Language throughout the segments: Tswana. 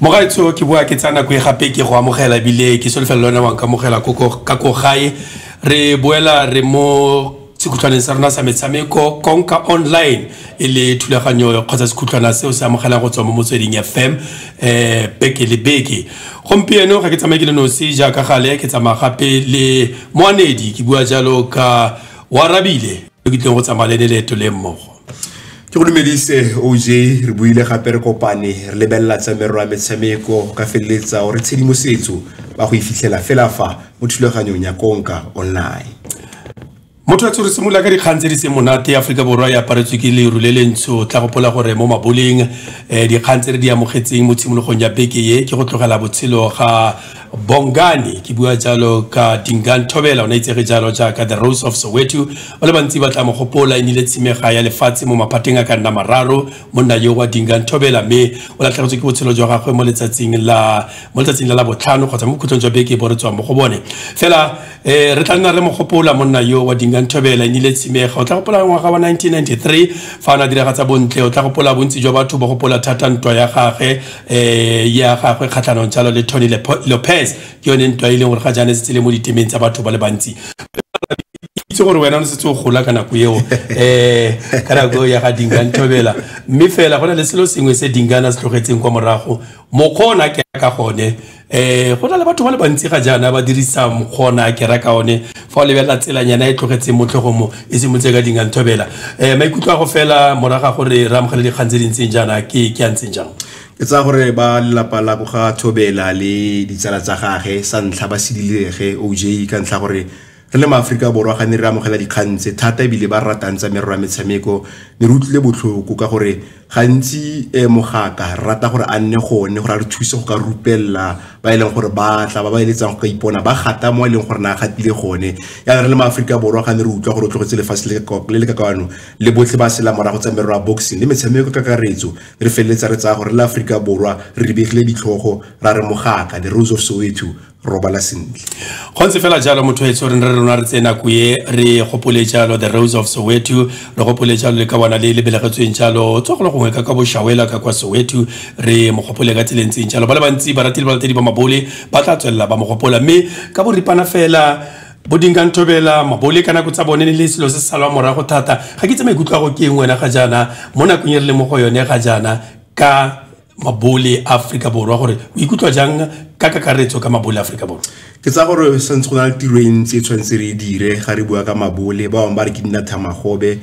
mogaetsho ke boa ke tsaya nako e gape ke go amogela ebile ke solofela lone wang ka amogela ka ko gae re boela re mo sekhutlhwaneng sa rona sa metshameko konka online e le thulaganyo kgotsa sekhutlhwana seo se amogelang go tswa mo motsweding fm um beke le beke gompieno ga ke tsamaye ke le nosi jaaka gale ke tsamaya gape le moanedi ke bua jalo ka warabile ke tleng go tsamaya le leeto le mmogo ke go dumedise oj re buile gape re kopane re lebelela tsa merero ya metshameko ka feleletsa gore tshedimosetso ba go e fitlhela fela fa mo thulaganyong ya konka online motho wa tshore simolola ka dikgang tse di seng monate ya aforika borwa e aparetswe ke leru le lentsho tla gopola gore mo maboleng um dikgang tse re di amogetseng mo tshimologong ya beke ye ke go tlogela botshelo ga bongane ke bua jalo ka dingan thobela o ne itsege jalo jaaka the rose of soweto ba le bantsi ba tla mo gopola e nile tshimega ya lefatshe mo maphateng a ka nna mararo monna yo wa dingan thobela mme o latlhegetswe ke botshelo jwa gagwe mo letsatsing la mo letsatsing la la botlhano kgotsa mo bokhutlong jwa beke bo re tswang mo go bone fela ee re tla nna re mo gopola monna yo wa dinganthobela e nile tshimega o tla gopola ngwaga wa 1993 fa o ne a diragatsa bontle o tla gopola bontsi jwa batho ba gopola thata ntwa ya gagwe um ya gagwe kgatlhanong jalo le tony lopez ke yone ntwa e leng gore ga jaana setse le mo ditemeng tsa batho ba le bantsi itse gore wena o ne setse o gola ka nako eo um ka nako eo ya ga dinganthobela mme fela go na le selo sengwe se dingana se tlogetseng kwa morago mokgwa o ne a ke ka gone um go na le batho ba le bantsi ga jaana ba dirisa mokgona ke raka one fa o lebelela tselanyana e tlogetseng motlhogo mo e simolotse ka dinganthobela um maikutlo a go fela moraga gore re amogele dikgang tse di ntseng jaana ke ke a ntseng jang ke tsaya gore ba lelapa la ko ga thobela le ditsala tsa gage sa ntlha ba sedilege oj ka ntlha gore Re le maAforika Borwa ga ne re amogela dikgang tse thata ebile ba ratang tsa merero ya metshameko ne re utlwile botlhoko ka gore gantsi eh, mogaka re rata gore a nne gone gore a re thuse go ka rupelela ba e leng gore ba tla ba ba eletsang go ka ipona ba gata mo e leng gore na a gatile gone yana re le maaforika borwa ga ne re utlwa gore o tlogetse lefatshe le ka- le le ka kwano le botlhe ba sela morago tsa merero ya boxing le metshameko ka kakaretso re feleletsa re tsaya gore re le aforika borwa re rebegile ditlhogo ra re mogaka the rose of soweto robala sentle go ntse fela jalo motho etsho re ne re rona re tse nako e re gopole jalo the rose of soweto re gopole jalo le ka bona le lebelegetsweng jalo tswa go le gongwe ka ka boshawela ka kwa soweto re mo gopole ka tseleng tseng jalo ba le bantsi baratile balatedi ba mabole ba tla tswelela ba mo gopola mme ka boripana fela bodinka nthobela mabole ka nako tsa bone ne le selo se se salwa morago thata ga ke tse maikutlo a go ke eng wena ga jaana mo nakong e re le mo go yone ga jaana ka mabole a aforika borwa gore o ikutlwa jang ka kakaretso ka mabole a aforika borwa ke tsa gore santse go na le tiro e ntsi e tshwanetse re e dire ga re bua ka mabole ba bangwe ba re ke nna thamagobe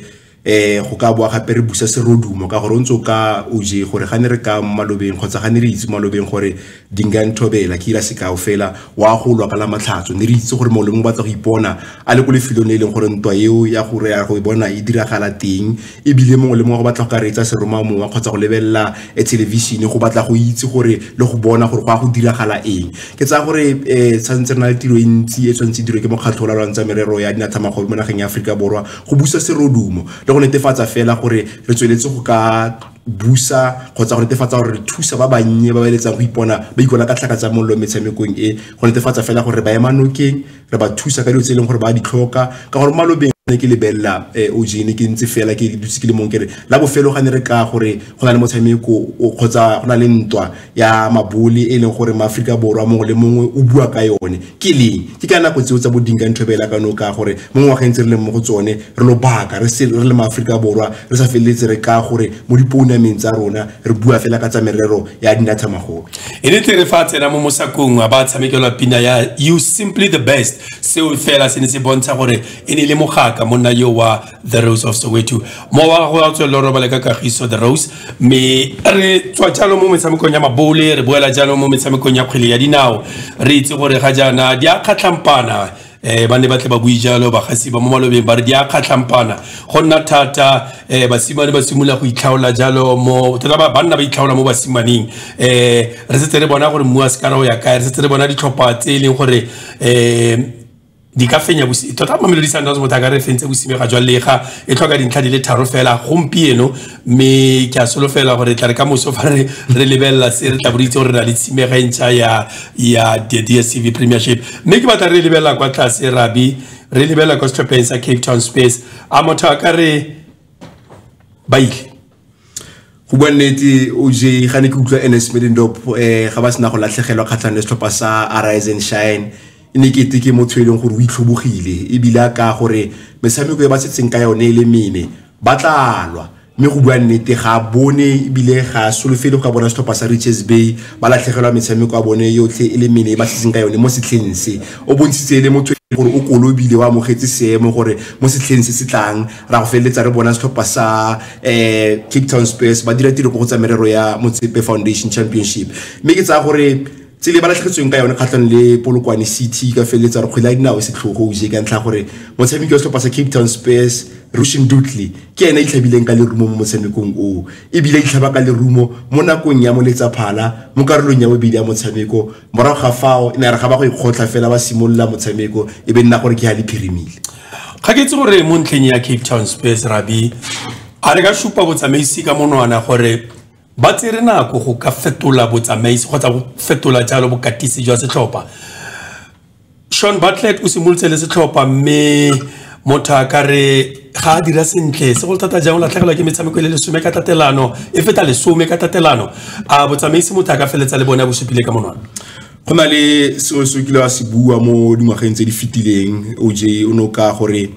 eh go ka boa gape re busa serodumo ka gore o ntse o ka o je gore ga ne re ka mo malobeng kgotsa ga ne re itse malobeng gore dinga nthobela ke ira sekao fela wa go lwa ka la matlhatso ne re itse gore molemo o batla go ipona a le ko lefelong le e leng gore ntwa eo ya gore ya go e bona e diragala teng ebile mongwe le mongwe go batla go ka reetsa seromamowa kgotsa go lebelela eh, thelevishene go batla go itse gore le go bona gore go a go diragala eng ke tsaya gore um eh, tshwanetse re na le tiro e ntsi e tshwanetse diro ke mokgatlho o lalwantsa merero ya dinathamagobe mo nageng ya aforika borwa go busa serodumo le go netefatsa fela gore re tsweletse go ka busa kgotsa go netefatsa gore re thusa ba bannye ba ba eletsang go ipona ba ikola ka tlhaka tsa mollo metshamekong e go netefatsa fela gore ba ema nokeng re ba thusa ka dilo tse e leng gore ba di tlhoka ka gore malobeng ne ke lebelela eh, o jene ke ntse fela ke dutse ke le mong kere la bofelo ga ne re ka gore go na le motshameko kgotsa go na le ntwa ya mabole e leng gore maaforika borwa mongwe le mongwe o bua ka yone ke leng ke ka nako tseo tsa bodinka ntho bela ka noka gore mo ngwageng tse re leng mo go tsone re lobaka re se re le maaforika borwa re sa feleletse re ka gore mo dipounameng tsa rona re bua fela ka tsa merero ya dinatha magolo e le tlere fa a tsena mo mosakong a ba tshamekelwa pina ya you simply the best seo fela se ne se bontsha gore e ne le mogaka monna yo wa the rose of soweto mo wa go a tswelela robale ka kagiso the rose mme re tswa jalo mo metshamekong ya mabole re boela jalo mo metshamekong ya kgwele ya dinao re itse gore ga jaana di a kgatlhampana eh ba ne ba tle ba bui jalo bagasi ba mo malobeng ba re di a kgatlhampana go nna thata eh basimane ba simolola go itlhaola jalo mo tota ba banna ba itlhaola mo basimaneng eh re setse re bona gore mmu wa sekara o ya kae re setse re bona ditlhopha tse e leng gore eh di ka fenya tota mamelodi sundowns motho a ka re fentse bosimega jwa lega e tlhoka dintlha di le tharo fela gompieno mme ke a solofela gore tla re ka moso fa re re lebelela se re tla bo re itse gore re na le tshimega e ntšha ya ya the dstv premiership mme ke batla re lebelela kwa tlase rabi re lebelela kwa setlhopheng sa cape town space a motho a ka re ba ile go bua nnete o je ga ne ke utlwa ns medendop um ga ba sena go latlhegelwa kgatlhang le setlhopha sa arise and shine e ne kete ke motho e leng gore o itlhobogile ebile a kaya gore metshameko e ba setseng ka yone e le mene ba tlalwa mme go bua nnete ga a bone ebile ga a solofele go ka bona setlhopha sa riches bay ba latlhegelwa metshameko ya bone yotlhe e le mene e ba setseng ka yone mo setlheng se o bontshitse e le motho e gore o kolobile o amogetse seemo gore mo setlheng se se tlang ra go feleletsa re bona setlhopha sa um cape town spurs ba dira tiro ko go tsa merero ya motsepe foundation championship mme ke tsaya gore tsele ba latlhegetsweng ka yone kgatlhang le polokwane city ka feleletsa re kgwele ya dinao e setlhogo uje ka ntlha gore motshameki wa setlhopha sa cape town spurs rushin dutley ke ene a itlhabileng ka lerumo mo motshamekong oo ebile a itlhaba ka lerumo mo nakong ya moletsaphala mo karolong ya bobedi ya motshameko morago ga fao e ne re ga ba go ikgotlha fela ba simolola motshameko e be nna gore ke ga le phirimile ga ke itse gore mo ntlheng ya cape town spurs rabi a re ka supa botsamaisi ka monwana gore Ba tsere nako go ka fetola botsamaisi kgotsa go fetola jalo bokatisi jwa setlhopha. Sean Bartlett o simolotse le setlhopha mme motho a ka re ga a dira sentle se go thata jang o latlhegelwa ke metshameko e le lesome ka tatelano e feta lesome ka tatelano a botsamaisi motho a ka feletsa le bone a bosupile ka monwana go na le seo se kile wa se bua mo dingwageng tse di fetileng oj o ne o ka gore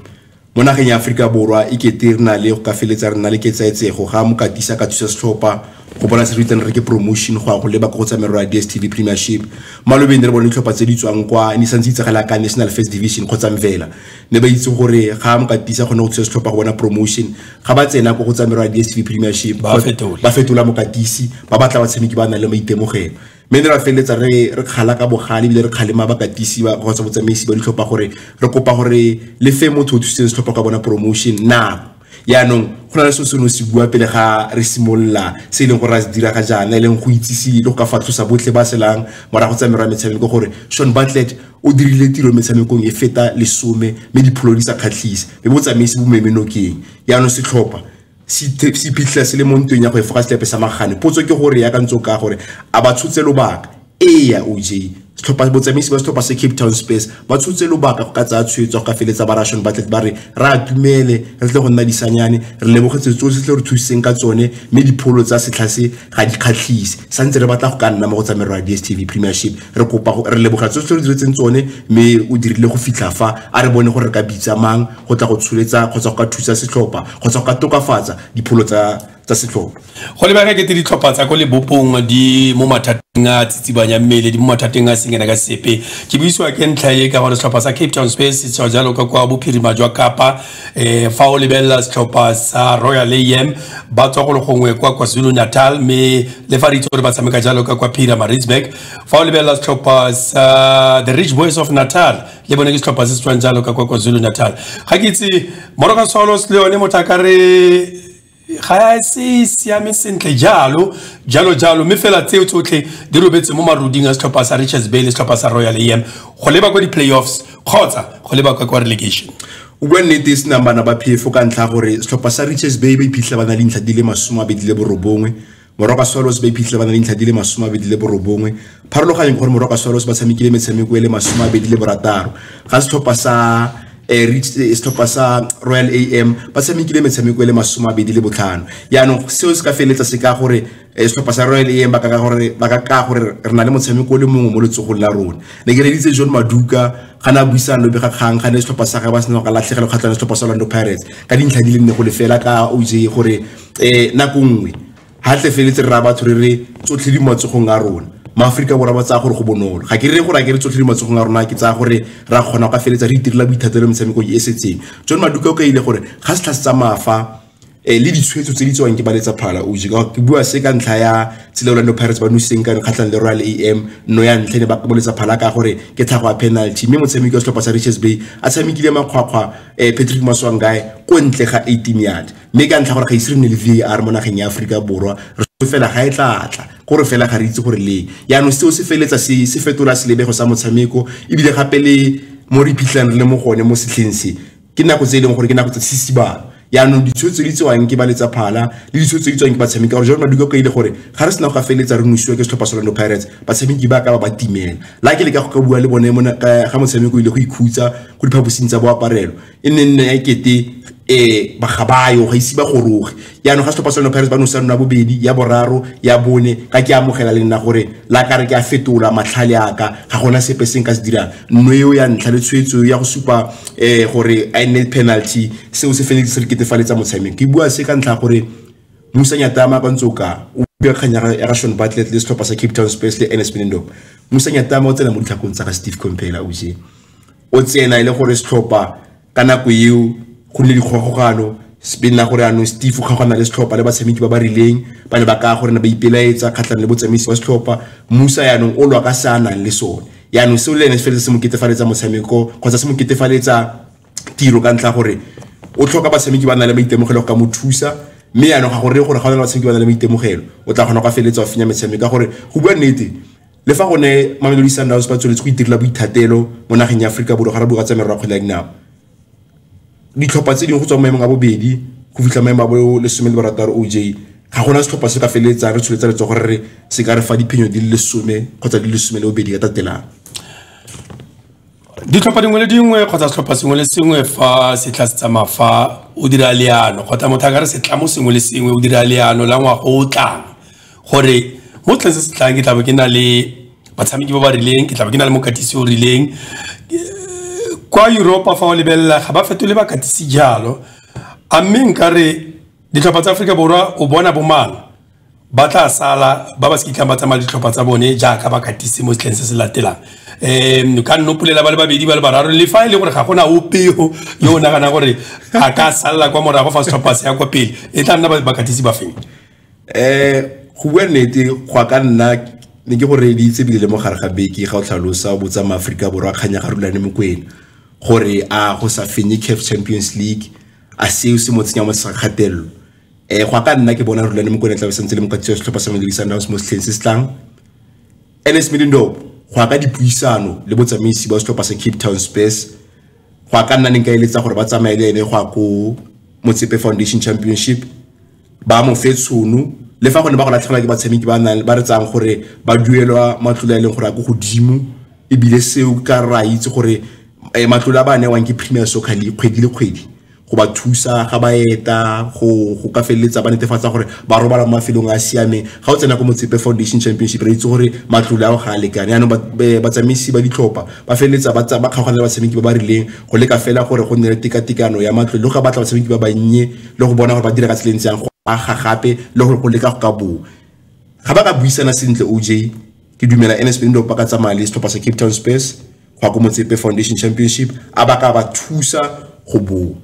Mo nageng ya Aforika Borwa e kete re na le go ka feletsa re na le ketsaetsego ga mokatisa ka thusa setlhopha go bona se re itseng re ke promotion go ya go leba ka go tsa merero ya DSTV Premiership malobeng re bone ditlhopha tse di tswang kwa ne santse itsagala ka National First Division kgotsa Mvela ne ba itse gore ga mokatisa kgone go thusa setlhopha go bona promotion ga ba tsena go go tsa merero ya DSTV Premiership ba fetola mokatisi ba batla batshameki ba nang le maitemogelo mme ne ra feleletsa re re kgala ka bogale ebile re kgalema bakatisi ba kgotsa botsamaisi ba ditlhopha gore re kopa gore le fe motho o thusitseng setlhopha ka bona promotion nako yaanong go na le se seno se bua pele ga re simolola se e leng gore a se dira ga jaana e leng go itsise le go ka fatlhosa botlhe ba selang morago tsa merwa metshameko gore shon batlet o dirile tiro metshamekong e feta lesome mme dipholo di sa kgatlhise mme botsamaisi bo memenokeng yaanong setlhopha se iphitlhela se le mo ntweng ya go efoga setlhepe sa magane potso ke gore ya ka ntse ka gore a ba tshotse lobaka ee ya oj setlhopha botsamaisi ba setlhopha se cape town space ba tshotse lobaka go ka tsaya tshwetso go ka feletsa ba rashon ba tlete ba re re a tumele re tle go nna disanyane re lebogetse tsotlhe tle re thusitseng ka tsone mme dipholo tsa setlha se ga di kgatlhise sa ntse re batla go ka nna mo go tsamero ya dstv premiership re kopa re lebogela tsotlhe re diretseng tsone mme o dirile go fitlha fa a re bone gore re ka bitsa mang go tla go tsholetsa kgotsa go ka thusa setlhopha kgotsa go ka tokafatsa dipholo tsa tsa setlhopha go lebega kete ditlhopha tsa ko lebopong di mo mathateng a tsitsibanya mmele di mo mathateng a sengena ka sepe ke buisiwa ke ntlha e ka gore setlhopha sa cape town space setswa jalo ka kwa bophirima jwa kapa um fa o lebelela setlhopha sa royal am ba tswa go le gongwe kwa kwazulu natal mme le fa re itse gore ba tshameka jalo ka kwa phira maritzburg fa o lebelela setlhopha sa the rich boys of natal le bone ke setlhopha se se tswang jalo ka kwa kwazulu natal ga ke itse moroka solos le yone motho a ka re ga se siame sentle jalo jalo jalo mme fela tseo tsotlhe di robetse mo maruding a setlhopha sa richards bay le setlhopha sa royal am go leba kwa di-playoffs kgotsa go leba kwa kwa relegation o bua nnete e senang bana ba phefo ka ntlha gore setlhopha sa richards bay ba iphitlhela ba na le dintlha di le masome a bedi le borobongwe Morwa ka Swallows ba iphitlhile ba na le dintlha di le masome a bedi le borobongwe pharologanyo ke gore morwa ka Swallows ba tshamekile metshameko e le masome a bedi le borataro ga setlhopha sa eh, reach eh, setlhopha sa royal am ba tshamekile metshameko e le masome a bedi le botlhano yaanong seo se ka feleletsa se ka gore eh, setlhopha sa royal am ba ka ka gore- ba ka ka gore re na le motshameko o le mongwe mo letsogong la rona ne ke reditse john maduka ga ne a buisang lobe ga kgang ga ne setlhopha sa gagwe ba sena ka latlhegelo kgatlhang le setlhopha sa orlando pirates ka dintlha di le nne go lefela ka oj gore eh nako nngwe ha tle feletse re ra batho re re tsotlhe di matsogong a rona maaforika borwa ba tsaya gore go bonolo ga ke re gore a ke re tsotlhe di matsogong a rona ke tsaya gore ra kgona ka feletse re itirela boithatelo metshameko e setseng john maduka o ka ile gore ga se tlhase tsa maafa eh, le ditshwetso tse di tsewang ke ba letsa phala o je ke bua se ka ntlha ya tsela orlando pirates ba nositseng ka kgatlhang le royal am no ya ntlhe ne ba koboletsa phala ka gore ke tlhago ya penalty mme motshameki wa setlhopha sa riches bay a tshamekile makgwakgwa um patrick maswangae ko ntle ga 18 yard mme ka ntlha gore ga ise re nne le var mo nageng ya aforika borwa re fela ga e tlatla gore fela ga re itse gore leng yaanong seo se feletsa se se fetola selebego sa motshameko ebile gape le mo re iphitlhang re le mo gone mo setlheng se ke nako tse e leng gore ke nako tsa sesibalo yaanong ditshwetso di tsewang ke ba letsa phala le ditshwetso di tswang ke batshameki gore jalo maduka ka ile gore ga re sena go gafeletsa re nosiwa ke setlhopha sa Orlando Pirates batshameki ba ka ba ba timela la ke le ka go ka bua le bone ga motshameko o ile go ikhutsa go diphaposing tsa boaparelo e ne nna ya kete eh ga ba yo ga ise ba goroge jaanong ga setlhopha sa lona pirates ba no sa nna bobedi ya boraro ya bone ga ke amogela le nna gore la ka re ke a fetola matlhale aka ga gona sepe se nka se dirang nno eo ya ntlha le tshwetso ya go supa um gore a nne penalty seo se feletse se re ketefaletsa motshameko ke bua se ka ntlha gore musa nyatama ba ntse o ka o bua kgang ya ga shon batlet le setlhopha sa cape town space le ns benendop musa nyatama o tsena mo ditlhakong tsa ga steve compela ose o tsena e le gore setlhopha ka nako eo go nne dikgogogano be nna gore anong steve o kgaogana le setlhopha le batshameki ba ba rileng ba ne ba kaya gore ne ba ipelaetsa kgatlhang le botsamaisi wa setlhopha musa yaanong o lwa ka se a nang le sone yaanong seo le ene se feletse se mo ketefaletsa motshameko kgotsa se mo ketefaletsa tiro ka ntlha gore o tlhoka batshameki ba na le maitemogelo go ka mo thusa mme yaanong ga gore gore ga o na le batshameki ba na le maitemogelo o tla kgona go ka feleletsa o fenya metshameko ka gore go bua nnete le fa go ne mamelodi sundowns ba tsweletse go itirela boithatelo mo nageng ya aforika borwa ga re bua tsa merero ya kgwele ya dinao ditlhopha tse dingwe go tswa maemong a bobedi go fitlha maemo a bo lesome le barataro o j ga gona setlhopha se ka feleletsang re tsholetsa letso gore re se ka re fa diphenyo di le lesome kgotsa di le lesome le bobedi ka tatelang ditlhopha dingwe le dingwe kgotsa setlhopha sengwe le sengwe fa se tla se tsamaya fa o dira leano kgotsa motho a ka re setlamo sengwe le sengwe o dira leano la ngwaga o tlang gore mo tleng se se tlang ke tlabe ke na le batshameki ba ba rileng ke tlabe ke na le mokatisi o rileng kwa europa fa o lebelela ga ba fetole bakatisi jalo a mme nkare ditlhopha tsa aforika borwa o bona bomang ba tla sala ba ba se kitlang ba tsamaya ditlhopha tsa bone jaaka ba katise mo setlheng se se latelang um ka nnopolela ba le babedi ba le bararo le fa e le gore ga gona opeo yo o naganang gore a ka salela kwa morago fa setlhopha se ya kwa pele e tla nna bakatisi ba feng um go bua nnete go ka nna ne ke gore di itse bile le mo gare ga beke ga o tlhalosa o botsa maaforika borwa kganya ga rulane mokwena gore a go sa fenye caf champions league a seo se mo tsenya mo sekgatelelo eh go ka nna ke bona rulane mokone tla sentse le mokatisi wa setlhopha sa Mamelodi Sundowns mo setlheng se se tlang Ernest Middendorp go ka dipuisano le botsamaisi ba setlhopha sa Cape Town Spurs go ka nna neng ka eletsa gore ba tsamaye le ene go ya ko Motsepe Foundation Championship ba mo fe tshono le fa go ne ba go latlhegelwa ke batshameki ba nang ba re tsang gore ba duelwa matlole a e leng gore a ko godimo ebile seo ka ra itse gore eh, matlole a ba newang ke Premier Soccer League kgwedi le kgwedi go ba thusa ga ba eta go go ka feleletsa ba netefatsa gore ba robala mo mafelong a siameng ga o tsena ko motsepe foundation championship re itse gore matlole ao ga a lekane yaanong batsamaisi ba ditlhopha ba feleletsa ba ba kgaogana batshameki ba ba rileng go leka fela gore go nne le tekatekano ya matlole le go ka batla batshameki ba bannye le go bona gore ba dira ka tseleng tseyang go aga gape le gore go leka go ka boo ga ba ka buisana sentle oj ke dumela nsp ndo ba ka tsamaya le setlhopha sa cape town space go ya ko motsepe foundation championship a ba ka ba thusa go boa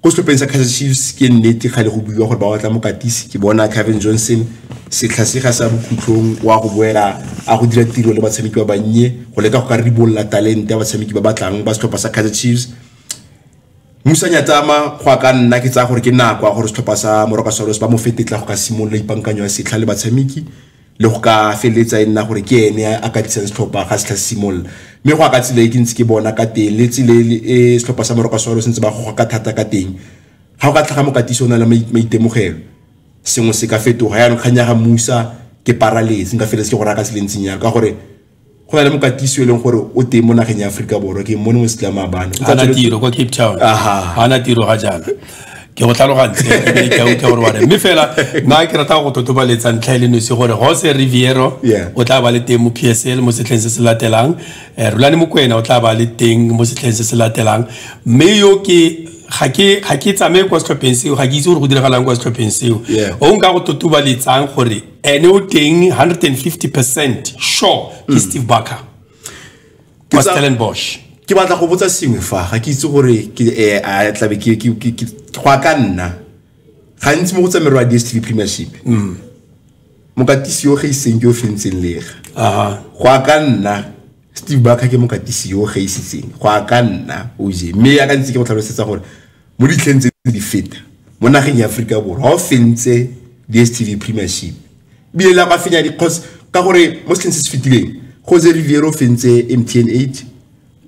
ko setlhopheng sa kaizer chiefs ke nnete ga le go buiwa gore ba batla mokatisi ke bona kevin johnson setlha se ga sa bokhutlong wa go boela a go dira tiro le batshameki ba bannye go leka go ka ribolola talente ya batshameki ba batlang ba setlhopha sa kaizer chiefs musanya tsama go ka nna ke tsaya gore ke nako ya gore setlhopha sa moroka solos ba mo fetetla go ka simolola ipankanyo ya setlha le batshameki le go ka feleletsa e nna gore ke ene a ka disang setlhopha ga setlha se simolola mme go a ka tsela e ke ntse ke bona ka teng le tsela e setlhopha sa moroka solo sentse ba goga ka thata ka teng ga o ka tlhaga mokatisi o na le maitemogelo sengwe se ka fetoga yaanong kgang ya ga musa ke paraletse nka feletse ke go raya ka tseleng ntseng yalo ka gore go na le mokatisi e leng gore o teng mo nageng ya aforika borwa ke mmone mo setlama bane ana tiro kwa cape town ana tiro ga jaana ke go tlhalogantse ka utlwa gore wane mme fela nna ke rata go totobaletsa ntlha e le nosi gore jose riviero o tla ba le teng mo p s l mo setlheng se se latelang eh, rulane mokwena o tla ba le teng mo setlheng se se latelang mme yo ke ga ke ga ke tsamaye kwa setlhopheng seo ga ke itse gore go diragalang kwa setlhopheng seo o nka go totobaletsang gore ene o teng 150 percent sure ke mm. steve barker wa stellenbosch ke batla go botsa sengwe fa ga ke itse gore ke eh, a tlabe ke ke ke ke go ka nna gantsi mo go tsamerwa di STV premiership mm mokatisi yo ge iseng ke o fentseng lega aha go ka nna Steve Barker ke mokatisi yo ge isitseng go ka nna o je me ya ka ntse ke go tlhalosetsa gore mo ditlheng tse di feta mo nageng ya aforika borwa ga o fentse dstv premiership bile la ba fenya dikgos ka gore mo setlheng se se fetileng jose riviere o fentse mtn eight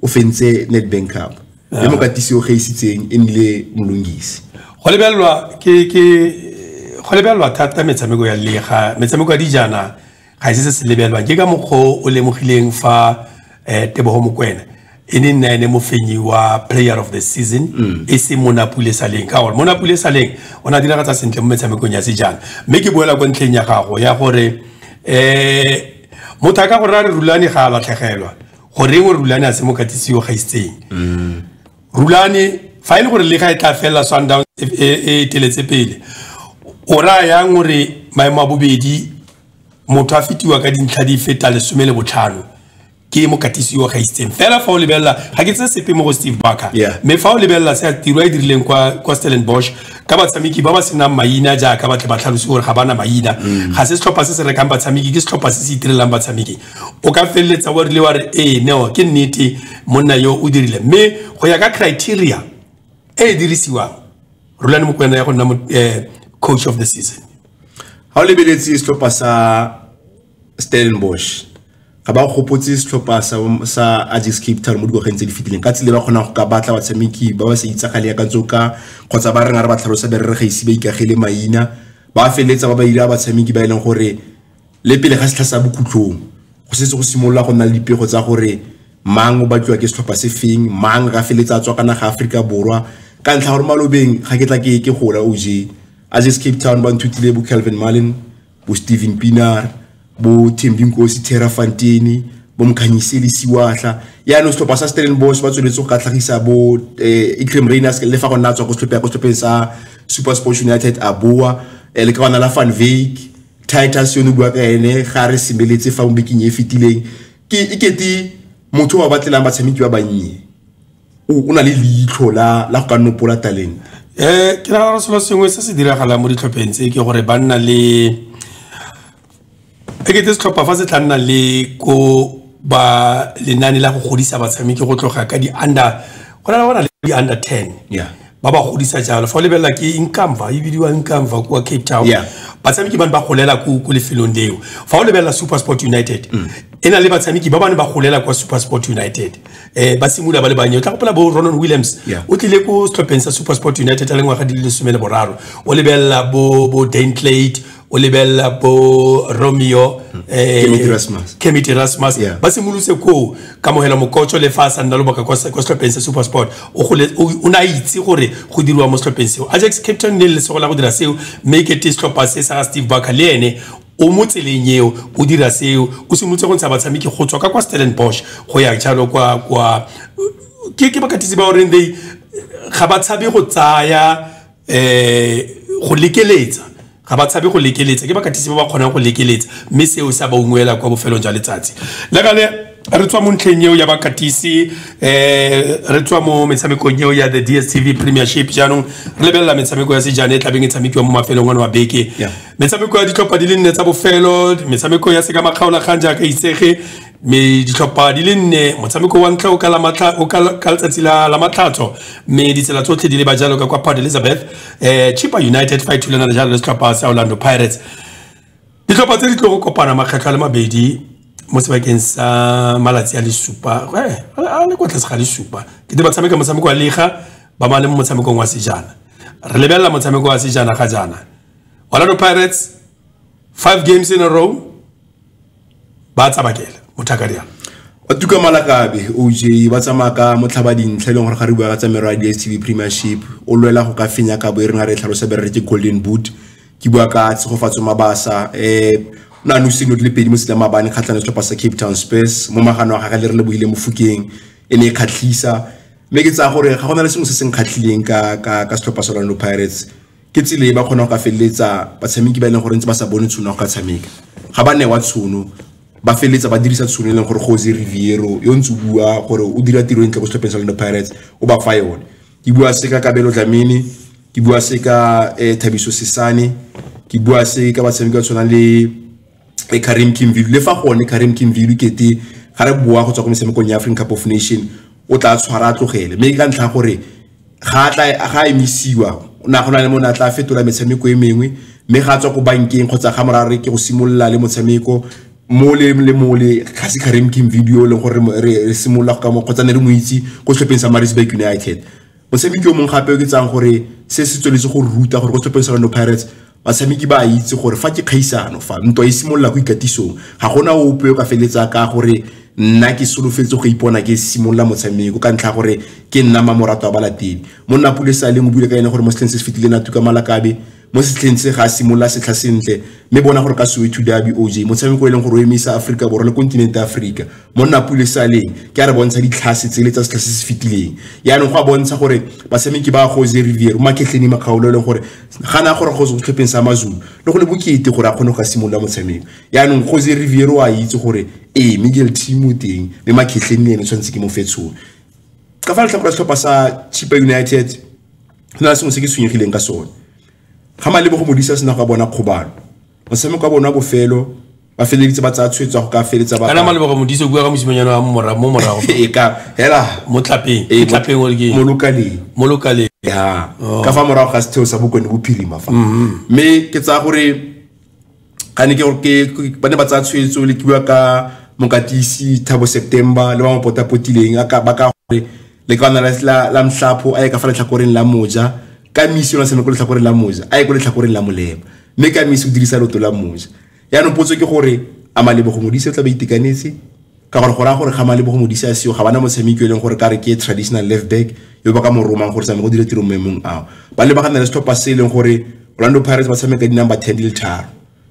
o fentse nedbank cup le mokatisi o gaisitseng e nnile molongisi go lebelelwa ke ke go lebelelwa thata metshameko ya lega metshameko ya dijana ga se se se lebelwa ke ka mokgwa o o lemogileng fa um tebogo mokwena e ne nna ene mofenyi wa player of the season mm. e se mo napule saleng ka gore mo napule saleng o ne a diragatsa sentle mo metshamekong ya sejana mme ke boela kwa ntlheng ya gago ya gore um motho a ka gore a re rulane ga a latlhegelwa goreng o rulane a se mo katisiwa gaisitseng mm. rulane fa e le gore lega e tla felela sundowns e, e, e eteletse pele o raya yang gore maemo a bobedi motho a fetiwa ka dintlha di feta lesome le botlhano ke mokatisi wa gaitseng fela fa o lebelela ga ke tse sepe mo go steve barker mme fa o lebelela se tiro e dirileng kwa kwa stellen bosch ka batshameki ba ba senang maina jaaka batle ba tlhalose gore ga bana maina mm. ga se setlhopha se se rekang batshameki ke setlhopha se se itirelang batshameki o ka feleletsa wa rile wa re ee neo ke nnete monna yo o dirile mme go ya ka criteria e e dirisiwang rulane mokwena ya go nna eh, coach of the season ga o lebeletse setlhopha sa stellenbosch ga ba gopotse setlhopha sa ajax cape town mo dikgwageng tse di fetileng ka tsile ba kgonang go ka batla batshameki ba ba sa itsagale ya ka tsoka kgotsa ba reng a re ba tlhalosa berere ga ise ba ikagele maina ba feleletsa ba ba ira batshameki ba e leng gore le pele ga setlha sa bokhutlhong go setse go simolola go nna le dipego tsa gore mang o batliwa ke setlhopha se feng mang ga feletsa a tswa ka naga Aforika Borwa ka ntlha gore malobeng ga ke tla ke ke gola OJ a just Cape Town ba nthutile bo Calvin Mullen bo Steven Pienaar bo Thembi Nkosi Thera Fantini bo Mkhanyiseli Siwahla ya no setlhopha sa Stellenbosch ba tsweletse go ka tlhagisa bo eh, Ikrem Rainers le fa go nna tswa go setlhopha go setlhopheng sa Super Sports United a boa eh, le ka bana la Van Veek titus yone bua ka ene ga re semeletse fa mo bekeng e fetileng ke e kete motho wa batlelang batshameki ba bannye o na le leitlho la go ka nopola talente um ke nagana gore selo sengwe se se diragalang mo ditlhopheng tse ke gore ba nna le e kete setlhopha fa se tla nna le ko ba lenane la go godisa batshameki go tloga ka di-under go na le bona le di-under ten yeah ba ba godisa jalo fa o lebelela ke inkamva e bidiwa inkamva kwa cape town yeah. batshameki ba ne ba golela ko lefelong leo fa o lebelela super sport united mm. e na le batshameki ba ba ne ba golela kwa super sport united um ba simolola ba le bannye o tla gopola bo ronon williams yeah. o tlile ko setlhopheng sa super sport united a le ngwaga di le lesome le boraro o lebelela bo, bo dantlate o lebelela bo romeo hmm. eh, kemity rasmus yeah. ba simolotse koo kamogela mokotso le fa a sa nna lobaka kwa setlhopheng se super sport o ne a itse gore go diriwa mo setlhopheng seo ajax captain ne le lesego la go dira seo mme kete setlhopha se sa ga steve barker le ene o mo tseleng eo o dira seo o simolotse go ntsha batshameki go tswa ka kwa stellan bosch go ya jalo kwa kwa ke bakatisi ba goreng they ga ba tshabe go tsaya um go lekeletsa ga ba tshabe go lekeletsa ke bakatisi ba ba kgonang go lekeletsa mme seo se a ba ungwela kwa bofelong jwa letsatsi le gale re tswa mo ntlheng eo ya bakatisi um re tswa mo metshamekong eo ya the d s t v premiership jaanong re lebelela metshameko ya sejane e tlabeng e tshamekiwa mo mafelong one wa beke metshameko ya ditlhopha di le nne tsa bofelo metshameko ya seka makgaolagang jaaka itsege mme ditlhopha di le nne motshameko wa ntlha o ka letsatsi la matlhatso mme ditsela tsotlhe di le ba jalo ka kwa port elizabeth um chipa united fa e thulana le jalo le setlhopha sa orlando pirates ditlhopha tse di tlo go kopana makgetlho a le mabedi mo sebakeng sa malatsi a le supa eh, a le kwa tlase ga le supa ke di ba tshameka motshameko wa lega ba ba le mo motshamekong wa sejana re lebelela motshameko wa sejana ga jaana orlando pirates five games in a row ba tsabakela motho a ka dirang batuka malakabe oj ba tsamaya ka motlhaba dintlha e leng gore ga re bua ka tsa mero ya dstv premiership o lwela go ka fenya kabo e rena re e tlhalosa be re ke golden boot ke bua ka tshegofatso mabasa um o ne a nose dilo di le pedi mo setsela maabane kgatlhane setlhopha sa cape town spurs mo magano wa gage le re lebogile mofokeng e ne e kgatlhisa mme ke tsaya gore ga go na le sengwe se se nkgatlhileng ka setlhopha sa orlando pirates ke tsela e ba kgonang go ka feleletsa batshameki ba e leng gore ntse ba sa bone tshono ya go ka tshameka ga ba newa tshono ba feleletsa ba dirisa tshono e leng gore Jose Riviero yo ntse o bua gore o dira tiro e ntle ko setlhopheng sa Orlando Pirates o ba fa yone ke bua se ka Kabelo Dlamini ke bua se ka eh, Thabiso Sesane ke bua se ka batshameki ba tshwanang le e Karim Kimvilu le fa gone Karim Kimvilu kete ga re boa go tswa go metshamekong ya African Cup of Nation o tla tshwara tlogele mme ka ntlha gore ga tla ga emisiwa o na gona le mona tla fetola metshameko e mengwe mme ga tswa go bankeng kgotsa ga mora re ke go simolola le motshameko mo le le mo le ga se Karim Kimvilu le gore re simolola go ka mo kgotsa ne re mo itse go setlhopheng sa Maritzburg United Motshameki yo mongwe gape o ke tsang gore se se tsweletse go ruta gore ko setlhopheng sa Orlando Pirates batshameki ba a itse gore fa ke kgaisano fa ntwa e simolola go ikatisong ga gona ope o ka feletsa ka gore nna ke solofetse go ipona ke simolola motshameko ka ntlha gore ke nna mamorato wa balatedi monna pule sa leng o bule ka ene gore mo setlheng se se fetileng a tuka malakabe mo setlheng se ga simolola setlha sentle mme bona gore ka soweto derby oj motshameko e leng gore o emisa aforika borwa le kontinente ya aforika monna pule saleng ke a re bontsha ditlhase tsele tsa setlha se se fetileng yaanong go a bontsha gore batshameki ba jose rivier makgetlheni makgaolo e leng gore gana a gore go setlhopheng sa mazulu le go le bokete gore a kgone go ka simolola motshameko yaanong jose rivier o a itse gore ee miguel team o teng mme makgetlheng le ene tshwanetse ke mo fetshole ka fa letlhakore setlhopha sa chipa united go na sengwe se ke tshwenyegileng ka sone ga malebo go modisa sena go bona kgobalo motshameko wa bona wa bofelo ba feleleditse ba tsaya tshwetso ya go ka feletsa ba kana malebo go modisa bua ka mosimanyana wa mora mo morago e ka hela mo tlapeng e tlapeng o ke mo lokaleng mo lokaleng ya oh. ka fa morago ga setheo sa bokone bophirima fa mm-hmm. mme ke tsaya gore ga ne ke ba ne ba tsaya tshwetso le kiwa ka mokatisi thabo september le ba mo potapotileng ba ka gore le ka ona la mtlhapho a ye ka fa letlhakoreng la moja ka misi yona sene ko letlhakoreng la moja a ye ko letlhakoreng la molema mme ka misi o dirisa loto la moja yaanong potso ke gore a malebogo modise o tla ba itekanetse ka gore go raya gore ga malebo go mo disa seo ga bana motshameki yo e leng gore ka re ke traditional left back yo ba ka mo romang gore tsame go dire tiro maemong ao ba lebagana le setlhopha se e leng gore orlando pirates ba tshameka di-number ten di le tharo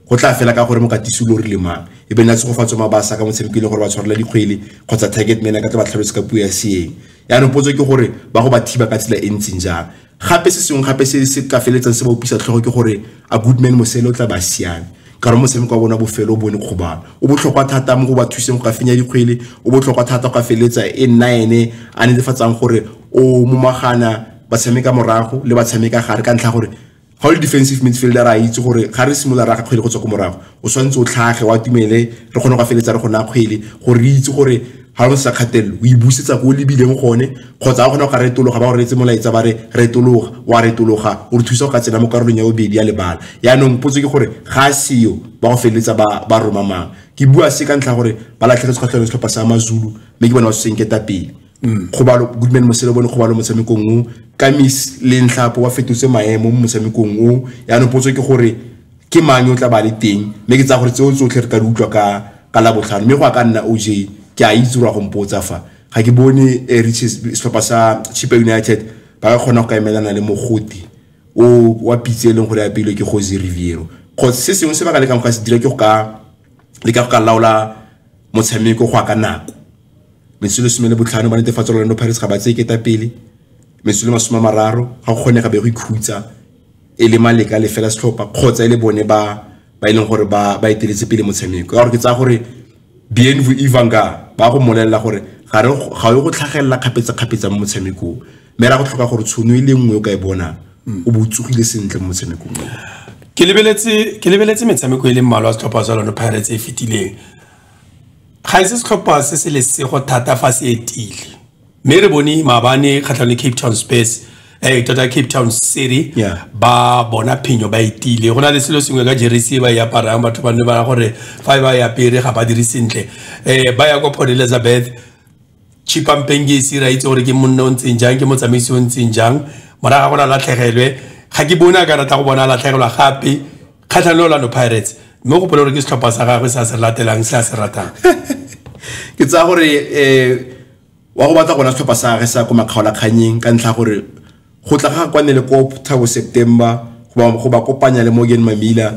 go tla fela ka gore mo katisi lo rile mang e be nna tshegofatso mabasa ka motshameki e leng gore ba tshwarela dikgwele kgotsa target man ka tla ba tlhalose ka puo ya seeng yaanong potso ke gore ba go ba thiba ka tsela e ntseng jang gape se sengwe gape se se ka feletsang se ba opisa tlhogo ke gore a goodman mosele o tla ba siame ka gore motshameko wa bona bofelo o bone kgobalo o botlhokwa thata mo go ba thuseng go ka fenya dikgwele o botlhokwa thata go ka feletsa e nna ene a netefatsang gore o momagana ba tshameka morago le ba tshameka gare ka ntlha gore ga o le defensive midfielder a itse gore ga re simolola raga kgwele go tswa ko morago o tshwanetse o tlhage wa tumele re kgone go feletsa re go naya kgwele gore re itse gore ga go sa kgatelelo o e busetsa ko o lebileng gone kgotsa a kgona go ka retologa ba go reetse molaetsa ba re retologa wa retologa o re thusa go ka tsena mo karolong ya bobedi ya lebala yaanong potso ke gore ga a seyo ba go feleletsa ba roma mang ke bua se ka ntlha gore ba latlhegetse kgatlhelo setlhopha sa mazulu mme ke bona ba senketa pele mm. kgobalo goodman mosele bone kgobalo motshamekong o kamis le ntlhapo ba fetotse maemo mo motshamekong o yaanong potso ke gore ke mang yo tla ba le teng mme ke tsa gore tseo tsotlhe re ka di utlwa ka ka la botlhano mme go a ka nna oj ke a itse gore go mpotsa fa ga ke bone eh, riches setlhopha sa chipa united ba ka kgona go ka emelana le mogoti o wa pitse e leng gore apeilwe ke jose riviero kgotsa se sengwe se ba ka lekang go ka se dira ke go ka leka go ka laola motshameko go ya ka nako mesolo some le botlhano ba netefatsa orlando pirates ga ba tseye ketapele mesolo masome a mararo ga go kgonega be go ikhutsa e le maleka le fela setlhopha kgotsa e le bone ba ba e leng gore ba ba eteletse pele motshameko ka gore ke tsaya gore bnv ivanga ba go molelela gore ga re ga yo go tlhagelela kgapetsa-kgapetsa mo motshamekong mme ra go tlhoka gore tshono e le nngwe o ka e bona o bo tsogile sentle mo motshamekong ke lebeletse ke lebeletse metshameko e le mmalwa setlhopha sa lone pirates e fetileng ga e se setlhopha se se lesego thata fa se etile mme re bone maabane kgatlhang le cape town space eh tota cape town city Yeah. ba bona phenyo ba itile go na le selo sengwe ka jeresi e ba e aparang batho ba ne ba ra gore fa e ba e apere ga ba dire sentle um ba ya kwa port elizabeth chipampeng ke ise ra itse gore ke monna o ntseng jang ke motsamaisi o ntseng jang moraga go na latlhegelwe ga ke bone a ka rata go bona a latlhegelwa gape kgatlha le orlando pirates mme o gopole gore ke setlhopha sa gagwe se a se latelang se a se ratang ke tsaya gore um wa go batla gona setlhopha sa gage sa ko makgaolakganyeng ka ntlha gore go tla ga kwane le ko thabo september go ba kopanya le morgan mamila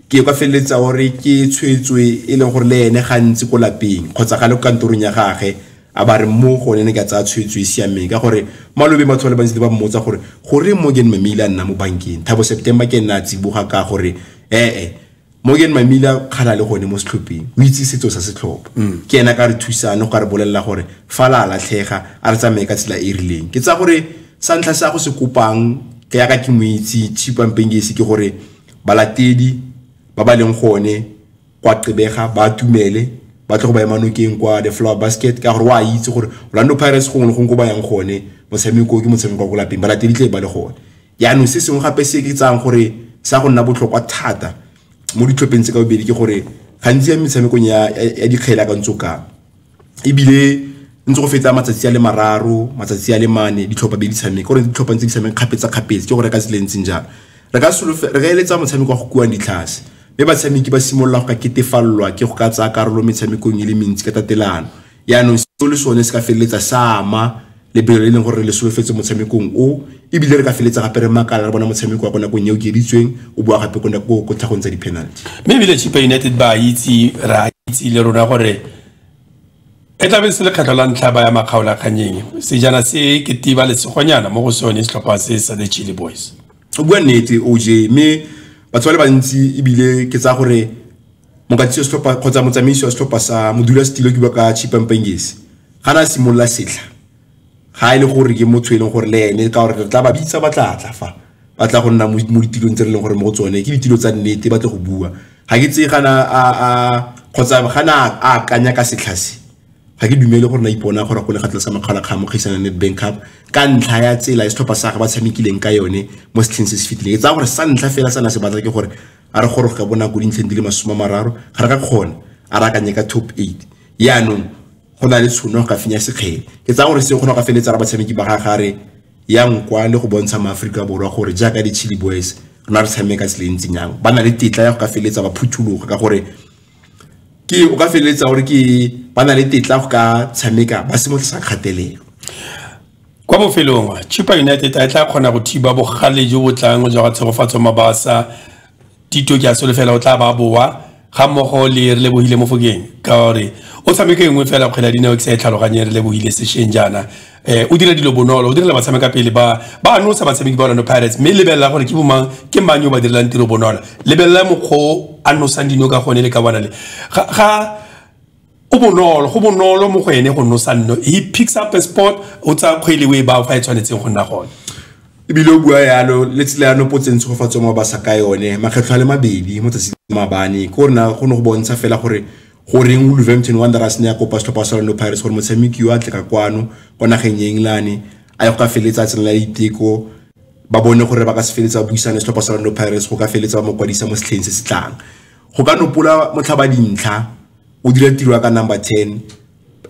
ke kwa feleletsa gore ke tshwetswe e leng gore le ene gantsi ko lapeng kgotsa ga le kantorong ya gage a ba re mo gone ne ka tsaya tshwetso e siameng ka gore malobe batho ba le bantsi ba mmotsa gore gore morgan mamila a nna mo bankeng thabo september ke nna a tsiboga ka gore ee morgan mamila kgala le gone mo setlhopheng o itse setso sa setlhopha mm. ke ena ka re thusane go ka re bolelela gore fa la latlhega a re tsamaye ka tsela e e rileng ke tsa gore sa ntlha sa go se kopang ke yaka ke moitse chipampengesi ke gore balatedi ba ba leng gone kwa qebega ba tumele ba tle go ba ema nokeng kwa the flower basket ka gore wa itse gore orlando pirates gongwe le gongwe ko ba yang gone motshameko ke motshameko wa ko lapeng balatedi tle ba le gone yaanong se sengwe gape se ke tsayang gore sa go nna botlhokwa thata mo ditlhopheng tse ka bobedi ke gore gantsi ya metshamekong ya dikgele ka ntse o kang ebile ntse go fetsa matsatsi a le mararo matsatsi a le mane ditlhopha be di tshameka gore ditlhopha ntse di tshameka kgapetsa-kgapetse ke gore ka tsela e ntseng jalo re ka re ka eletsa motshameko wa go kuang ditlhase mme batshameki ba simolola go ka ketefalelwa ke go ka tsaya karolo metshamekong e le mentsi ka tatelano yaanong seo le sone se ka feleletsa sa ama lebelo le e leng gore re le solofetse motshamekong o ebile re ka feletsa gape re makala re bona motshameko wa ko nakong e o keditsweng o boa gape ko tlhagong tsa di-penalty mme ebile chipa united ba itse ra itse le rona gore e tlabe se lekgetlho la ntlha ba ya makgaolakganyeng sejana se ke tiba lesegonyana mo go sone setlhopha se sa the chile boys o bua nnete oj mme batho ba le bantsi ebile ke tsaya gore mokatisi wa setlhopha kgotsa motsamaisi wa setlhopha sa modula setilo ke ka chipampangesi ga na simolola setlha ga e le gore ke motho e leng gore le ene ka gore re tla ba bitsa ba tla tla fa ba tla go nna mo ditilong tse re leng gore mo go tsone ke ditilo tsa nnete ba tle go bua ga ke tseye gana a kgotsa gana a akanya ka setlha se ga ke dumele gore na ipona gore go le ga tlasa makgala kga mo kgaisana net bank cup ka ntlha ya tsela e setlhopha sa ga ba tshamekileng ka yone mo setlheng se se fetileng e tsaya gore sa ntlha fela sa na se batla ke gore a re goroge ka bonako dintlheng di le masome a mararo ga re ka kgona a re akanye ka top eight yaanong go na le tshono go ka fenya sekgele ke tsaya gore se kgona go ka feleletsa ra batshameki ba ga gare ya nkwa le go bontsha maaforika borwa gore jaaka di-chili boys rona re tshameka tseleng tsenyang ba na le tetla ya go ka feleletsa ba phuthologa ka gore ke o ka feleletsa gore ke ba na le tetla go ka tshameka ba se mo tlisa kgatelelo kwa bofelong chipa united a e tla kgona go thiba bogale jo bo tlang jwa ga tshegofatso mabasa tito ke a solofela o tla ba boa ga mmogo le re lebogile mofokeng ka gore o tshameke nngwe fela kgwele ya dinao ke sa e tlhaloganye re lebogile sešeng jaana eh o dira dilo bonolo o direla batshameka pele ba ba no sa batshameki ba Orlando Pirates mme lebelela gore ke bomang ke mang yo ba direlang tiro bonolo lebelela mokgo a no sang dino ka gone le ka bona le ga go bonolo go bonolo mo go ene go no sanno he picks up a sport o tsa kgwele we ba fa e tshwanetseng go nna gone ebile o bua yalo le tsela ya nopotseng tshegofatso mo ba sa ka yone makgetlho a le mabedi mo tsatsi mabane ke gore na go ne go bontsha fela gore goreng wolverhampton wanderers ne ya kopa setlhopha sa orlando pirates gore motshameki yo a tle ka kwano kwa nageng ya england a ye go ka feleletsa tsena la diteko ba bone gore ba ka se feleletsa buisane setlhopha sa orlando pirates go ka feleletsa ba mo kwadisa mo setlheng se se tlang go ka nopola motlhaba dintlha o dira tiro ya ka number ten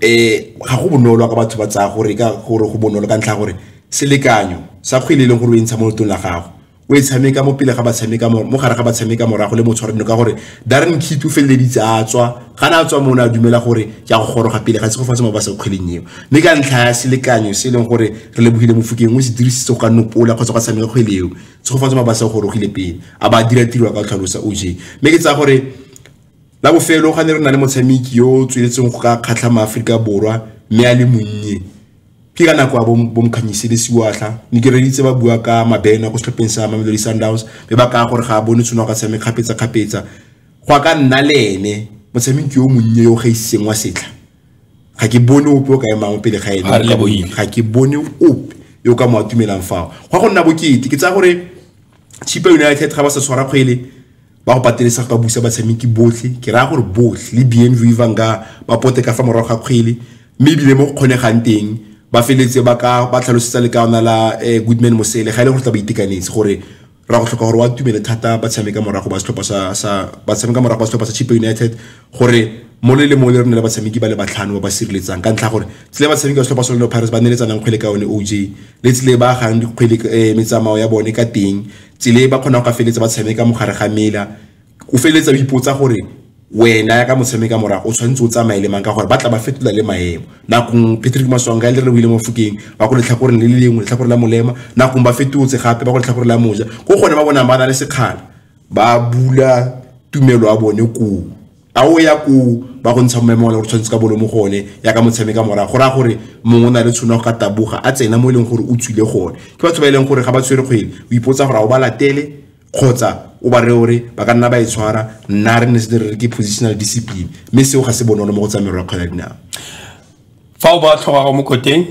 eh ga go bonolo ka batho ba tsaya gore ka gore go bonolo ka ntlha gore selekanyo sa kgwele e leng gore o e ntsha mo lotong la gago o e tshameka mo pele ga ba tshameka mo gare ga ba tshameka morago le mo tshwareno ka gore Darren Keat o feleleditse a tswa ga na a tswa mone a dumela gore ke a go goroga pele ga se go fa mo ba sa kgweleng eo mme ka ntlha ya selekanyo se e leng gore re lebogile mofokeng o se dirisitse go ka nopola kgotsa go tshameka kgwele eo se go fa mo ba sa gorogile pele a ba dira tiro ka tlhalosa OJ mme ke tsaya gore la bofelo ga ne re na le motshameki yo o tsweletseng go ka kgatlha maaforika borwa mme a le monnye ke ka nako ya bomkganyise le siwatlha ne ke reditse ba bua ka mabena go setlhopheng sa mamelodi sundowns mme ba kaya gore ga a bone tshwene ka tshameng kgapetsa-kgapetsa go a ka nna le ene motshameki yo monnye yo gaiseng wa setlha ga ke bone ope o ka emang pele ga ene ga ke bone ope yo ka mo atumelang fao go a go nna bokete ke tsaya gore chipa united ga ba sa tshwara kgwele ba go patelesa go ka busa batshameki botlhe ke raya gore botlhe le bnv vanga ba pote ka fa morago ga kgwele mme ebile mo go kgonegang teng ba feletse ba ka ba tlhalosetsa le kaona la eh, goodman mosele ga e le gore tla ba itekanetse gore ra go tlhoka gore wa tumele thata ba tshameka morago ba setlhopha sa ba tshameka morago ba setlhopha sa chip united gore mo le le mo le rona le batshameki ba le batlhano ba ba sireletsang ka ntlha gore tsile batshameki ba setlhopha sa Orlando Pirates ba neletsanang kgwele ka yone OJ le tsile ba gang dikgwele eh, metsamao ya bone ka teng tsile ba kgona go ka feletsa ba tshameka mogare ga mela o feletsa o ipotsa gore wena ya ka motshameka morago o tshwanetse o tsamaye le mang ka gore ba tla ba fetola le maemo nakong patrick maswanga le re buile mo fokeng ba ko letlhakoreng le le lengwe letlhakore la molema nakong ba fetotse gape ba ko letlhakore la moja ko gone ba bonang ba na le sekgala ba bula tumelo ya bone koo a o ya koo ba go ntsha mmemo gore tshwanetse ka bolo mo go one ya ka motshameka mora go raya gore mongwe o na le tshono ka taboga a tsena mo e leng gore o tswile gone ke batho ba e leng gore ga ba tshwere kgwele o ipotsa gore a o ba latele kgotsa o ba re ore ba ka nna ba e tshwara nna re ne se re ke positional discipline mme seo ga se bonolo mo go tsa merwa kgwela dinao fa o ba tlhoga go mo koteng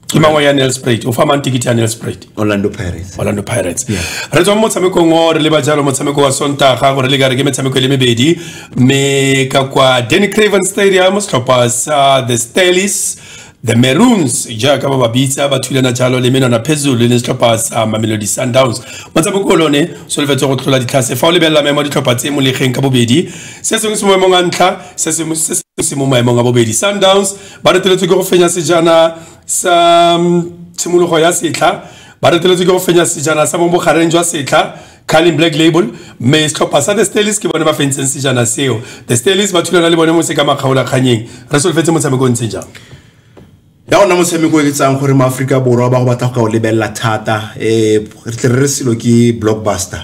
ke mangwe ya nelsprat o fa mang ticket ya nelsprat orlando pirates orlando pirates re tswa mo motshamekong o re leba jalo motshameko wa sontaga gore le kare ke metshameko e le mebedi mme ka kwa danny craven stadium setlhopha sa the stalis the maroons jaaka ba ba bitsa ba thulana jalo le menwana phezulu le setlhopha sa mamelodi sundowns motshameko o lone solofetse go tlhola ditlhase fa o lebelela maemo a ditlhopha tse molegeng ka bobedi se sengwe se mo maemong a ntlha se sengwe se se mo maemong a bobedi sundowns ba reteletswe ke go fenya sejana sa mm, tshimologo ya setlha ba reteletswe ke go fenya sejana sa mo bogareng jwa setlha carling black label mme setlhopha sa the stalis ke bone ba fentseng sejana seo the stalis ba thulana le bone mo se ka makgaolakganyeng re solofetse motshameko o ntseng jang ya ona motshameko e tsang gore maaforika borwa ba go batla go ka o lebelela thata um re tle re re selo ke blockbuster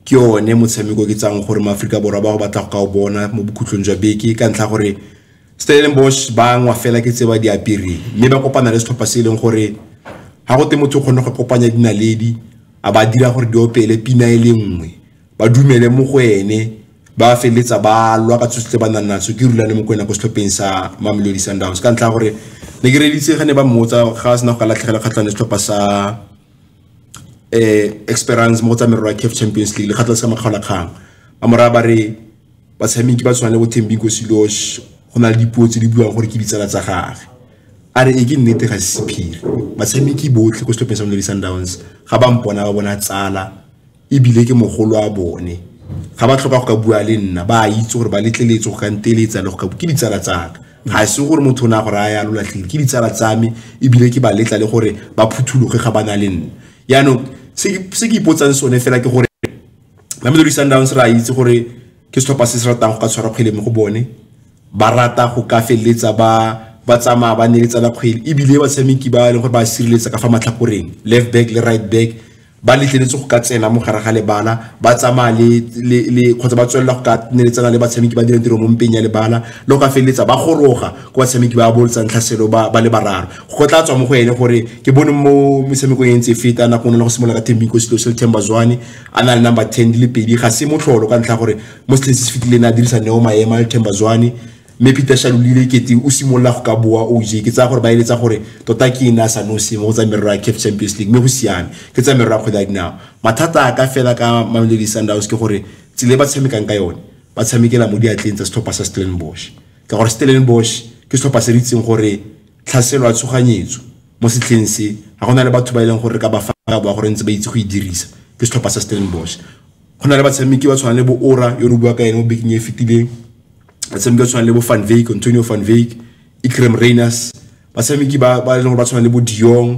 ke one motshameko ke tsang gore maaforika borwa ba go batla go ka o bona mo bokhutlong jwa beke ka ntlha gore Stellenbosch ba ngwa fela ke tse ba di apereng mme ba kopana le setlhopha se e leng gore ga go te motho o kgone go kopanya dinaledi a ba dira gore di opele pina e le nngwe ba dumele mo go ene ba feleletsa ba lwa ka tsosi tse ba nang natso ke rulane mo ko ena ko setlhopheng sa mamelodi sundowns ka ntlha gore ne ke reditse ga ne ba mmotsa ga sena go ka latlhegela kgatlhane setlhopha sa um eh, experience mo go tsa merero ya caf champions league lekgatlha le sa makgaolakgang ba moraya ba re batshameki ba tshwana le bo Thembinko Silosh go na le dipuo tse di buang gore ke ditsala tsa gage a re e ke nnete ga se sephiri batshameki botlhe ko setlhopheng sa Mamelodi Sundowns ga ba mpona ba bona tsala ebile ke mogolo a bone ga ba tlhoka go ka bua le nna ba itse gore ba letleletse go ka nteletsa le go ka ke ditsala tsaka ga se gore motho o ne a gore a ya lo latlhile ke ditsala tsa me ebile ke ba letla le gore ba phuthologe ga ba na le nna yaanong se ke ipotsang sone fela ke gore Mamelodi Sundowns ra itse gore ke setlhopha se se ratang go ka tshwara kgwele mo go bone ba rata go ka feleletsa ba ba tsamaya ba neletsa la kgwele ebile batshameki ba e leng gore ba sireletsa ka fa matlhakoreng left back le right back ba letleletse go ka tsena mo gare ga lebala ba tsamaya le kgotsa ba tswelela go ka neletsana le batshameki ba dirang tiro mo mpeng ya lebala le go ka feleletsa ba goroga ko batshameki ba boletsang tlhaselo ba le bararo go tla tswa mo go ene gore ke bone mo metshamekong e ntse e feta nako ne le go simolola ka thembiko selo se le themba zwane a na le number ten di le pedi ga se motlholo ka ntlha gore mo setlheng se se fetileng a dirisa neo maema le thembazwane mme peter shalolile kete o simolola go ka boa oj ke tsaya gore ba eletsa gore tota ke ene a sa nosi mo go tsa merero ya caf champions league mme go siame ke tsa merero ya kgwele ya dinao mathata a ka fela ka mamelodi sundowns ke gore tsela e ba tshamekang ka yone ba tshamekela mo diatleng tsa setlhopha sa stellenbosch ka gore stellenbosch ke setlhopha se re itseng gore tlhaselo ya tshoganyetso mo setlheng se ga go na le batho ba e leng gore re ka ba fa ka boa gore ntse ba itse go e dirisa ke setlhopha sa Stellenbosch go na le batshameki ba tshwanang le bo Ora yo re bua ka ene mo bekeng e fetileng batshameki ba tshwanang le bo Van Wyk Antonio Van Wyk Ikrem Rainers batshameki ba ba e leng gore ba tshwana le bo Diong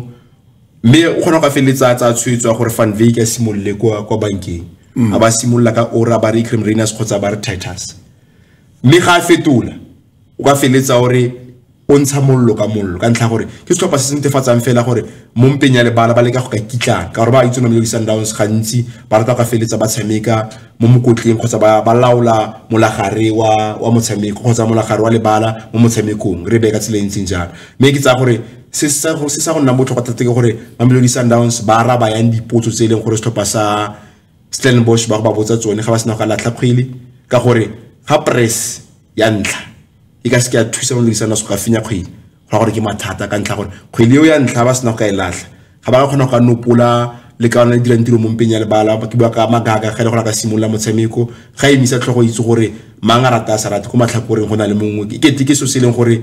mme o kgona go ka feleletsa tsa tshwetso ya gore Van Wyk a simolole kwa kwa bankeng mm. a ba simolola ka Ora ba re Ikrem Rainers kgotsa ba re Titus mme ga a fetola o ka feletsa o re o ntsha mollo ka mollo ka ntlha gore ke setlhopha se se netefatsang fela gore mo mpeng ya lebala ba leka go ka kitlana ka gore ba itse mamelodi sundowns gantsi ba rata ka feletsa ba tshameka mo mokotleng kgotsa ba laola molagare wa wa motshameko kgotsa molagare wa lebala mo motshamekong re beye ka tsela e ntseng jalo mme ke tsaya gore se sa go nna botlhokwa thata ke gore mamelodi sundowns ba araba yang dipotso tse e leng gore setlhopha sa stellenbosch ba go ba botsa tsone ga ba sena go latlha kgwele ka gore ga press ya ntlha e ka se ke ya thusa mo dirisana se ka finya kgwedi go gore ke mathata ka ntlha gore kgwedi eo ya ntlha ba sena go ka e latlha ga ba kgona go ka nopola le ka ona dirang tiro mo mpeng ya lebala ke bua ka magaga ga e le gore a ka simolola motshameko ga e misa tlhogo itse gore mang a rata a sa rate ko matlhakoreng go na le mongwe ke kete ke so se e leng gore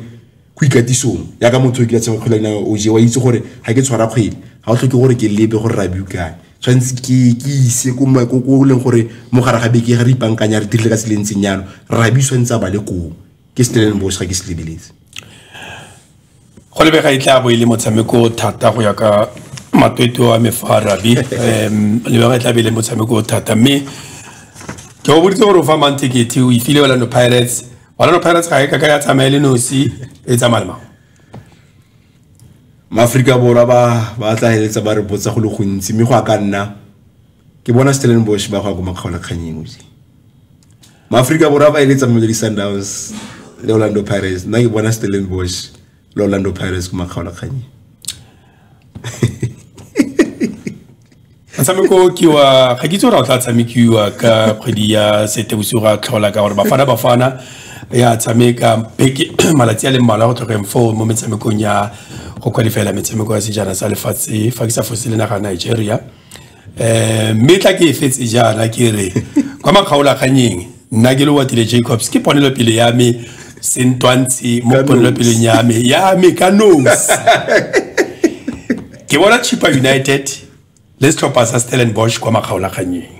ko ikatisong ya ka motho o kile tshameka kgwele ya dinao o je wa itse gore ga ke tshwara kgwele ga o tlhoke gore ke lebe gore ra bukae tshwanetse ke ke ise ko ko leng gore mo gare ga beke ga re ipankanya re dirile ka se le ntseng yalo rabi tshwanetse a ba le koo ke stellenbosch ga ke se lebeletse go lebega e tla bo e le motshameko thata go ya ka matwetwe wa me fa rabi um lebega e tla be e le motshameko thata mme ke go boditse gore o fa mang tekete o ifile orlando pirates orlando pirates ga e ka ka ya tsamaye le nosi e tsamaya le mang maaforika borwa ba ba tla heletsa ba re botsa go le gontsi mme go a ka nna ke bona stellenbosch ba go ya ko makgaolakganyeng ose maaforika borwa ba eletsa mamelodi sundowns le orlando pirates nna ke bona stellenbosch le orlando pirates ko makgaolakganyeng motshameko ke wa ga ke itse gore o tla tshamekiwa ka kgwedi ya setebosigo ga tlhola ka gore bafana bafana ya tshameka beke malatsi a le mmalwa go tlhokeng foo mo metshamekong ya go kwalifela metshameko ya sejana sa lefatshe fa ke sa fose le naga nigeria um mme tla ke e fetse jaana ke re kwa makgaolakganyeng nna ke le watile jacobs ke ponelopele ya me sentwantshe mo ponelopeleng ya me ya me ka nos ke bona chipa united le setlhopha sa stellenbosch kwa makgaolakganyeng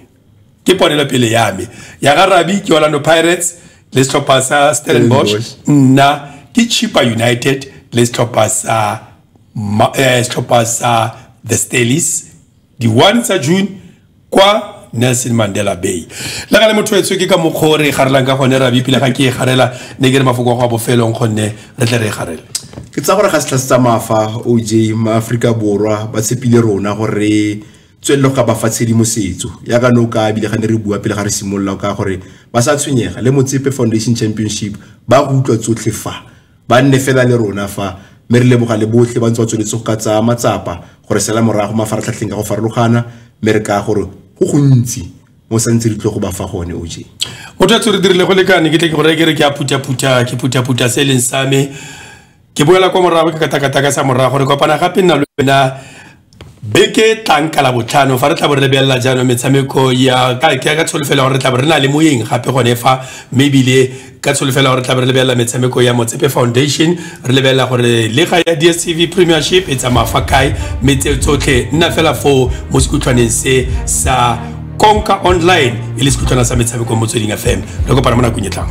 ke ponelopele ya me ya ga rabi ke orlando pirates le setlhopha sa stellenbosch nna ke chipa united le setlhopha sa eh, setlhopha sa the stalis di-one tsa june kwa nelson mandela bay le ga le motho etswe ke ka mokgwa o re e garelang ka gone rabi pele ga ke e garela ne ke re mafoko a go a bofelong gonne re tle re e garele ke tsa gore ga setlha se tsamaya fa oj maaforika borwa ba tshepile rona gore tswelele go ka ba fa tshedimosetso ya ka no ka ebile ga ne re bua pele ga re simolola ka gore ba sa tshwenyega le motsepe foundation championship ba go utlwa tsotlhe fa ba nne fela le rona fa mme re leboga le botlhe ba ntse ba tsweletse go ka tsaya matsapa gore sela morago mafaratlhatlheng ka go farologana mme re ka gore go gontsi mo sa ntse re tlo go ba fa gone o je motho a tse re dirile go lekane ke tle ke go reye ke re ke a phutha-phutha ke phutha-phutha se e leng same ke boela kwa morago ke katakataka sa morago re kopana gape nna le wena beke tlang ka la botlhano fa re tla bo re lebelela jaanong metshameko ya ka ka tsholofelo gore re tla bo re na le moyeng gape gone fa mme ebile ka tsholofelo gore re tla bo re lebelela metshameko ya motsepe foundation re lebelela gore lega ya dstv premiership e tsamaya fa kae mme tse tsotlhe nna fela foo mo sekutlhwaneng se sa konka online e le sekutlhwana sa metshameko motsweding fm re kopana mo nakong e tlang